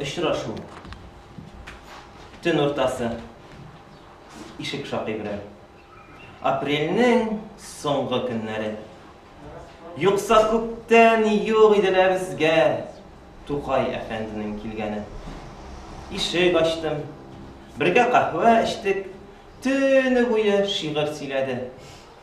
Очрашу. Төн уртасы. Ишек шакый белән. Апрельнең соңгы көннәре. Юкса күптән юк иде лә безгә Тукай әфәнденең килгәне. Ишек ачтым. Бергә каһвә эчтек. Төне буе шигырь сөйләде.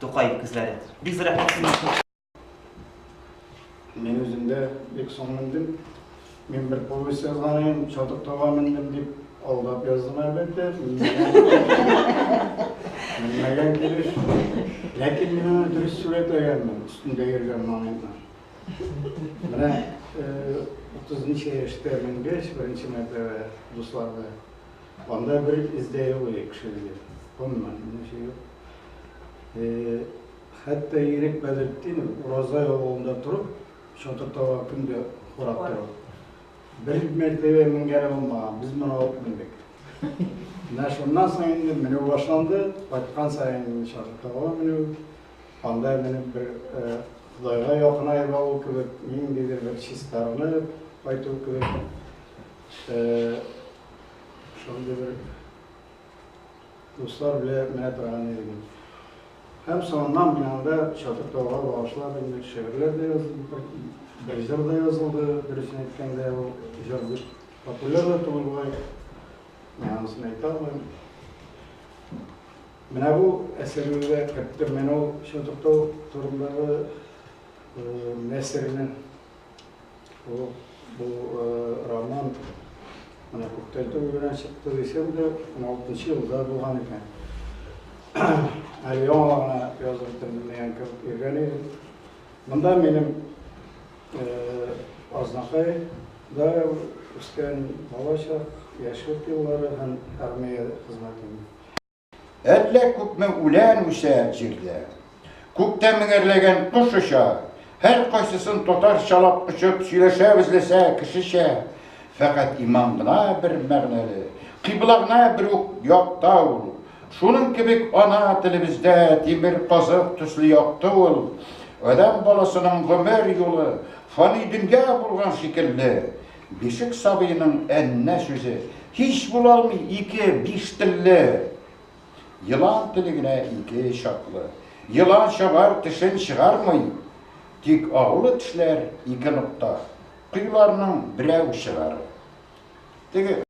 Тукай күзләре. Бик зур рәхмәт сезнең өчен. Мин үзем дә бик соң мендем. Мин бер повесть язган идем, чатык тауга мендем дип алдап яздым әлбәттә. Менмәгән килеш. Ләкин мин аны дөрес сурәтләгәнмен, өстендә йөргән моментны. Менә 30 ничә яшьтә менгәч, беренче мәртәбә дусларда Анда бер эз дә юк иде кешелеге. Гомумән, берничә ел. Хәтта Ирек Бәдретдинов Уразай авылында торып, чатыр таба көн дә карап тора. Бер мәртәбә менгәне булмаган, без моны алып мендек. Менә шуннан соң инде менү башланды, кайткан саен инде чатыр таба менү, анда менеп бер Ходайга якынай бару кебек, ниндидер бер чистарынып кайту кебек. Шундый бер дуслар белән менә торган идем. Һәм соңыннан мин анда Чатыр тауга багышлап инде шигырьләр дә язылды, бер, бер җыр да язылды, дөресен әйткәндә ул җыр бик популяр да түгел болай. Мин анысын әйтә алмыйм. Менә бу әсәрләргә керттем. Менә ул Чатыр тау турындагы э, нәсерне Бу, бу э, роман менә күптән түгел генә чыкты дисәм дә, 16 елда булган икән. Әле яңа гына язып бетердем дигән кебек йөргән идем. Монда минем э, Азнакай да үскән балачак, яшьлек еллары һәм армия хезмәтем. Әллә күпме үлән үсә җирдә. Күктә меңәрләгән кош оча, һәр кайсысын татарчалап очып сөйләшәбез ләсә кешечә. Фәкать иман гына бер мәгънәле, кыйбла гына бер үк якта ул. Шуның кебек ана телебездә тимер казык төсле якты ул. Адәм баласының гомер юлы фани дөнья булган шикелле. Бишек сабыеның әннә сүзе һич була алмый ике биш телле. Елан теле генә ике чаклы. Елан чабар тешен чыгармый, тик агулы тешләр ике нокта, коеларның берәү чыгарып. Теге.